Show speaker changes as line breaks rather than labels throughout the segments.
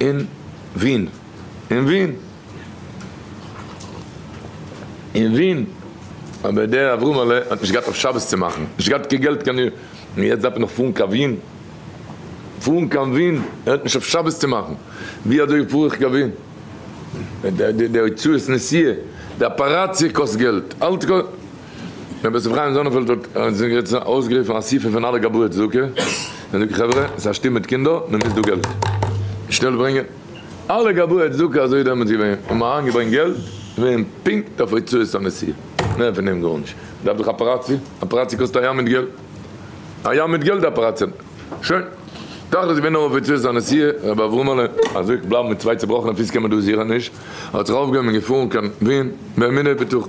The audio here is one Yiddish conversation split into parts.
אין ווין. אין ווין. אין ווין. אבער דער אברהמעלע האט נישט געהאט אויף שבת צו מאכן. נישט געהאט קיין געלט קיין. און יעצט דארף ער נאך פארן קיין ווין. פארן קיין ווין. ער האט נישט אויף שבת צו מאכן. ווי אזוי פאר איך קיין ווין? די הוצאות נסיעה. די אפאראציע קאסט געלט. אלץ קאסט. רבי יוסף חיים זאנענפעלד האט אויסגערופן א אסיפה פון אלע גבאי צדקה און זאגט חברה ס'איז א שטוב מיט קינדער מען מוז דא געלט שנעל ברענגען אלע גבאי צדקה אזוי איז דעמאלטס געווען האבן אריינגעברענגט געלט געווען פונקט אויף הוצאות הנסיעה מער פון דעם גארנישט מ'דארף דאך אפעראציע אפעראציע קאסט א ים מיט געלט א ים מיט געלט אפעראציע שוין תכלית איז געווען נאר אויף הוצאות הנסיעה רבי אברהמ'עלע אזוי בלייבן מיט צוויי צובראכענע פיס קען מען דא זיכער נישט האט זיך אויפגעהויבן און געפארן קיין ווין באמונה בטוחה.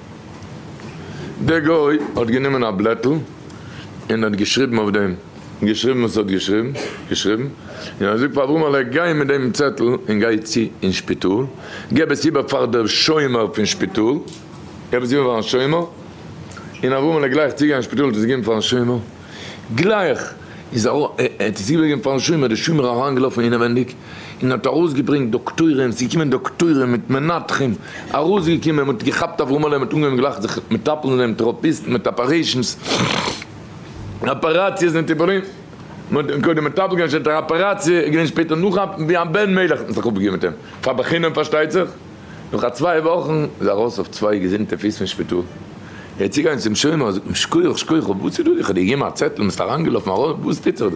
דער גוי האט גענומען א בלעטל און האט געשריבן אויף דעם, געשריבן וואס ער האט געשריבן, געשריבן, און ער זאגט פאר אברהמעלע, גיי מיט דעם צעטל און גיי צו אין שפיטאל, געב עס איבער פאר דער שומר פון שפיטאל, געב עס איבער פארן שומר, און אברהמעלע גלייך צוגיין אין שפיטאל האט עס געגעבן פארן שומר, גלייך איז ער האט עס איבערגעגעבן פארן שומר, דער שומר אריינגעלאפן אינעווענדיג, און האט ארויסגעברענגט דאקטוירים, ס'איז געקומען דאקטוירים מיט מנתחים, ארויסגעקומען, מ'האט געכאפט אברהמ'עלע, מ'האט אנגעהויבן גלייך זיך מטפל אין דעם, טעראפיסט מיט אפערעישאנס, אפעראציעס און טיפולים, מ'האט אים קודם מטפל געווען, שפעטער אפעראציע, איז געווען שפעטער נאך א, ווי א בן מלך האט מען זיך אפגעגעבן מיט אים, פאר בחינם פארשטייט זיך, נאך א צוויי וואכן איז ער ארויס אויף צוויי געזונטע פיס פון שפיטאל, ער איז צוגעגאנגען צום שומר, זאגט אים, שקויעך, שקויעך, וואס איז דא, איך האב דיר געגעבן א צעטל, ביסט אריינגעלאפן ארויס, וואס טוט זיך דא?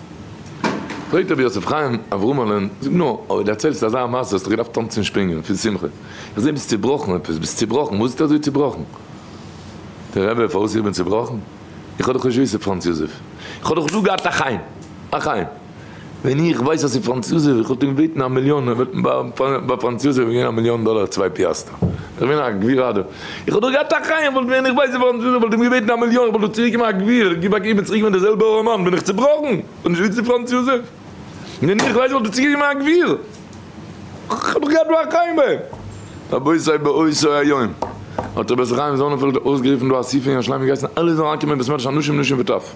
פרעגט רבי יוסף חיים אברהמל'ען, זאג נאר, אויב דערציילסט אזא מעשה האסטו געדארפט טאנצן און שפרינגען פון שמחה, איך זעה ביסט צובראכן עפעס, ביסט צובראכן, וואס איז אזוי צובראכן? דער רבי, פארוואס איך בין צובראכן? איך האב דאך נישט וויסע פראנץ יוזעף, איך האב דאך דא געהאט א חיים, א חיים, ווען איך ווייס אז ס'איז פראנץ יוזעף, איך וואלט אים געבעטן א מיליאן, ער וואלט מיר ביי פראנץ יוזעף געגעבן א מיליאן דאלער צוויי פיאסטע. דער מנהג גביר אדער איך האב דאך געהאט א חיים וואלט ווען איך בייז געווארן צווישן זיי וואלט אים געבעטן א מיליאן איך וואלט דאך צוריק געמאכט גביר גיב א געבן צוריק ווען דער זעלבער ארעמאן בין איך צובראכן און נישט וויצן פראנץ יוזעף ווען איך בייז וואלט איך צוריק געמאכט גביר איך האב דאך געהאט דא א חיים ביי אים. רבותי באותו היום האט רבי זרח חיים זאנענפעלד אויסגערופן דא אסיפה אין ירושלים געהייסן אלע זאלן אנקומען בית מדרש אנשים נשים וטף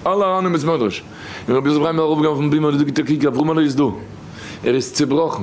אלע אריין אין בית מדרש און רבי יוסף חיים איז ארויפגעגאנגען אויפן בימה און איז דא געטאקיקט אברהמעלע איז דא ער איז צובראכן.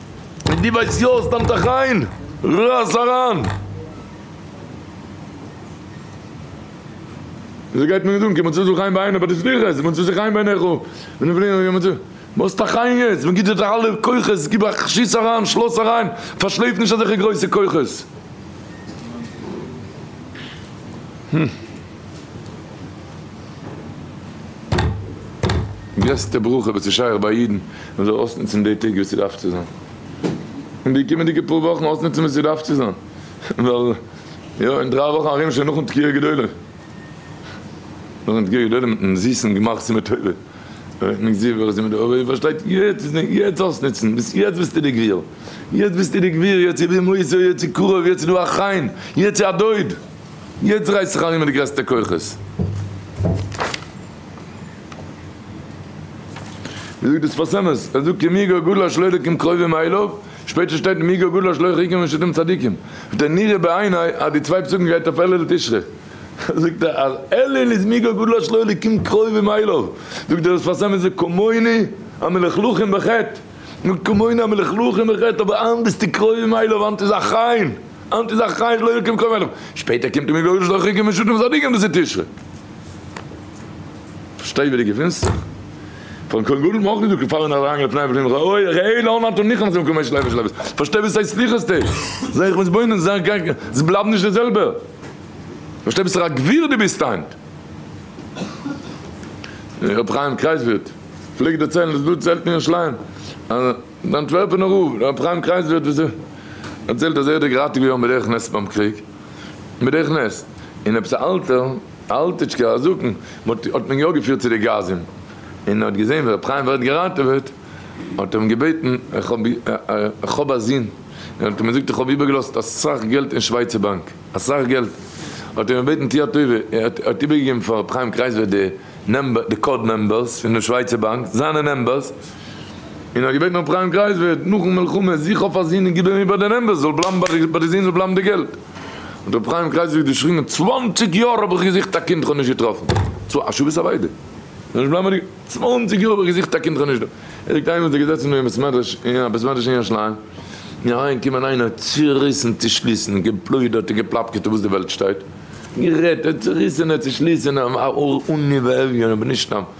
ווען דו ווייסט יא סתם טאך איין רייס אריין. וויאזוי גייט מען יעצט אן? קען מען צו זיך איין ביינער ביי די סליחות? קען מען צו זיך איין ביינער איך בין נעבעך? וואס טאך איין יעצט? מען גיבט זיך די אלע כוחות גיב א שיס אריין שלאס אריין פארשלעפ נישט אזעלכע גרויסע כוחות. גרעסטע ברכה וואס איז שייך ביי א אידן מען זאל אויסנוצן די טעג ווי ס'דארף צו זיין, און די קומענדיגע פאר וואכן אויסנוצן ווי ס'דארף צו זיין, ווייל יא אין דריי וואכן ארום שוין נאכן תקיעה גדולה, נאכן תקיעה גדולה מיטן זיסן גמח סימן טובה, און מען זיע ווער עס איז מיט די אויבער איר פארשטייט, יעצט איז די יעצט אויסנוצן, ביז יעצט ביסטו די גביר, יעצט ביסטו די גביר, יעצט איז די מוסר, יעצט איז קרוב, יעצט איז דא א חיים, יעצט איז א דוד. יעצט רייס זיך אריין מיט די גרעסטע כוחות. ווי זאגט דאס שפת אמת? ער זאגט כי מי גר גדול אשר לא ידוקים קרובים אליו, שפעטער שטייט מי גר גדול אשר לא ירחיקם משפטים צדיקים. זאגט ער נראה בעיני אז די צוויי פסוקים גייט אויף אלול תשרי. זאגט ער אז אלול איז מי גר גדול אשר לא ידוקים קרובים אליו. זאגט דאס שפת אמת זאגט כמוני המלכלכים בחטא. זאגט כמוני המלכלכים בחטא אבער היינט ביסטו קרובים אליו היינט איז א חיים. אנ ט איז א חי שלא יקום קום עליו, שפעטער קומט און מגורש די רחוקים און שותים צדיקים דאס איז תשרי. פארשטיי ווי די געפונסט זיך. פארן כהן גדול האט מען אויך געזאגט געפאלען אין א ראנג לפני ולפנים ראה אוי ראה אוי לא נתן ניחם זיו כמש לוי ושל עבס פארשטיי וואס ס'הייסט סליחות טעג זיי איך מתבונן זיי גיי זיי בלייבן נישט די זעלבע פארשטיי וואס א גביר די ביסט היינט. רבי חיים קרייזווירט פלעגט דערציילן דאס דא צו עלטער אין שלאין אז. די אנטווערפענער רב, ר' חיים קרייזלער האט דערציילט אז ער האט דערגרייט געוועהן בדרך נס ביים קריג, בדרך נס, און עפעס א אלטער, א אלטיטשקער, א זקן, האט מען יא געפירט צו די גאזים, און ער האט געזעהן ווי ר' חיים ווערט געראטעוועט, האט ער אים געבעטן, איך האב א זון, און האט אים געזאגט איך האב איבערגעלאזט אסאך געלט אין שווייצער באנק, אסאך געלט, האט ער אים געבעטן טוה א טובה, ער האט איבערגעגעבן פאר ר' חיים קרייזלער די קאוד נומבערס פון די שווייצער באנק, זיינע נומבערס. און האט געבעטן אפרים קרייזווירט נאכן מלחמה זיך אויף א זון און גיבן אים איבער די נעמבערס זאל בלייבן ביי די זון זאל בלייבן די געלט האט אפרים קרייזווירט געשריגן צוואנציג יאר האב איך געזוכט א קינד כ'האב נישט געטראפן א שבת אבידה זאל נישט בלייבן ביי די געלט צוואנציג יאר האב איך געזוכט א קינד כ'האב נישט דא ער ליגט איינמאל איז ער געזעצן אין בית מדרש אין א בית מדרש אין ירושלים און אריין קומען איינער צוריסן צושליסן און געפלוידערט און געפלאפקעט אויף וואס די וועלט שטייט גערעדט צוריסענע צושליסענע און ניווערליע און בנשתם.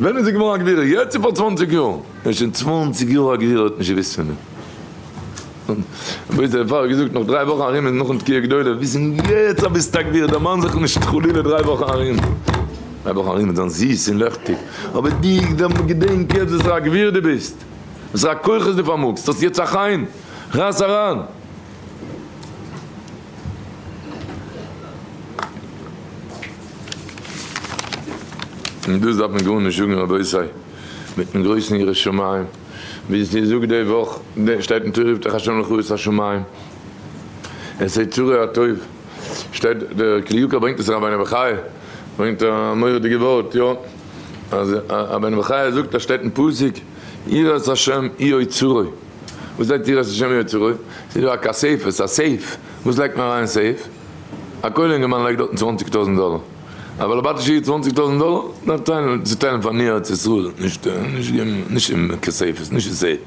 ווען איז זי געווארן א גבירה? יעצט צו פאר צוואנציג יאר? און שוין צוואנציג יאר א גבירה האט נישט געוואוסט פון מיר. וואו איז דער פארער געזאגט נאך דריי וואכן ארום איז נאכן תקיעה גדולה וויסן יעצט אז ביסט א גבירה דערמאן זיך נישט חלילה דריי וואכן ארום. דריי וואכן ארום וועט זיין זיס און לעכטיג אבער די געדענק יעצט וואסערע א גביר די ביסט וואסערע כוחות די פארמאגסט האסט יעצט א חיים רייס אריין. און דאס דארף מען גארנישט זאגן רבותי, מיטן גרויסן ירא שמים וואס איר זאגט די וואך, שטייט אין תורה יפתח ה' לך את השמים את היצרי הטוב, שטייט דער כלי יקר ברענגט עס רבינו בחיי ברענגט א מורא'דיגע ווארט יא אז רבינו בחיי זאגט אז שטייט אין פסוק יראת השם היא אוצרוי. וואס זעט איר אז השם יוצא רע? ס'איז דא א כספת, א סעיף, וואס לייגט מען אריין אין סעיף? א כולל אינגערמאן לייגט דארטן צוואנציג טויזנט דאלער. א בעל הבית איז שולדיג צוואנציג טויזנט דאלער, דארף טיילן, צוטיילן פאר ניו ארץ ישראל, נישט געבן, נישט אין כספת, נישט אין סעיף.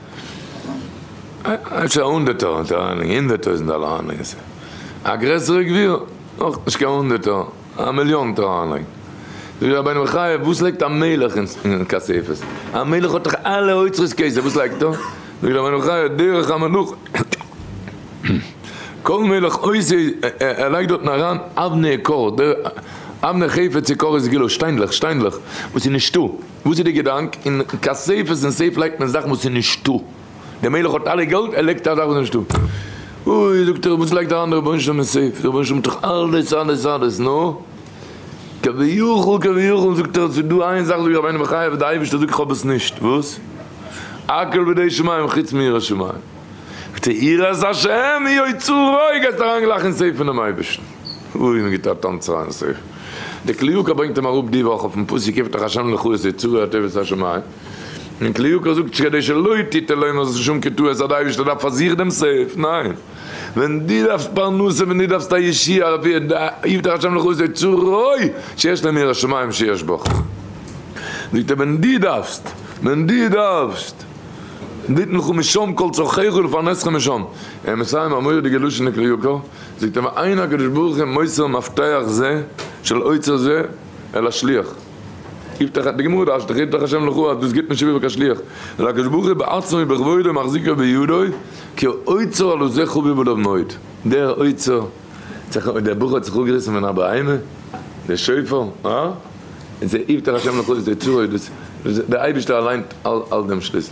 אפשר הונדערטער האט ער אריינגעלייגט, הונדערט טויזנט דאלער אריינגעלייגט אין סעיף. א גרעסערע גביר, אויך נישט קיין הונדערטער. א מיליאן טאר אריינלייגן. זאגט דער רבינו בחיי, וואס לייגט א מלך אין כספת? א מלך האט דאך אלע אוצרות כסף, וואס לייגט ער? זאגט דער רבינו בחיי, דרך המלוכה, כל מלך עושה, ער לייגט דארטן אריין אבני עקור, אבני חפץ עקור איז גילו, שטיינדלעך, שטיינדלעך וואס איז נישטא, וואס איז די געדאנק? אין כספת און סעיף לייגט מען זאכן וואס איז נישטא. דער מלך האט אלע געלט ער לייגט אזאך וואס איז נישטא, אוי זאגט ער וואס לייגט דער אנדערער רבונו של עולם אין סעיף, דער רבונו של עולם האט דאך אלעס אלעס אלעס, נו כביכול כביכול זאגט ער עס איז דא איין זאך זאגט רבינו בחיי וואס דער אייבערשטער זאגט איך האב עס נישט, וואס? הכל בידי שמים חוץ מיראת שמים, זאגט ער יראת השם היא אוצר רוי, גייסט אריין גלייך אין סעיף פונעם אייבערשטן, אוי מען גיבט א טאנץ אריין אין סעיף, דער קליוקער ברענגט אים אראפ די וואך אויפן פסוק יפתח השם לך את אוצרות הטוב ואת השמים. און כלי יקר זאגט נישט כדי שלא תטעה לעומת זאת שום קטוע אז א אייבערשטער דארף פאר זיך דעם סעיף, ניין, ווען דו דארפסט פרנסה ווען דו דארפסט א ישועה אפי' הבטח ה' לך עושה צורי שיש להם יראת שמים שיש בך, זאגט ער ווען דו דארפסט, ווען דו דארפסט, ותנך משם כל צרכיך ולפרנסך משם, ער מסיים א מורא'דיגע לשון אין כלי יקר, זאגט ער ואין הקדוש ברוך הוא מוסר מפתח זה של אוצר זה אל השליח. גיבט דאך די גמרא אשת חיטה כשם לחו אז דאס גיבט נישט איבער קיין שליח נאר הקדוש ברוך הוא בעצמו ובכבודו מחזיקו בידו כי אוצר הלא זה חביב עליו מאוד דער אוצר דער בחור האט זיך אפגעריסן פון א בהמה דער שופר אה און ס'איז איבטער השם לחו איז דער צורת דאס דער אייבישטער אליין האלט דעם שליסל.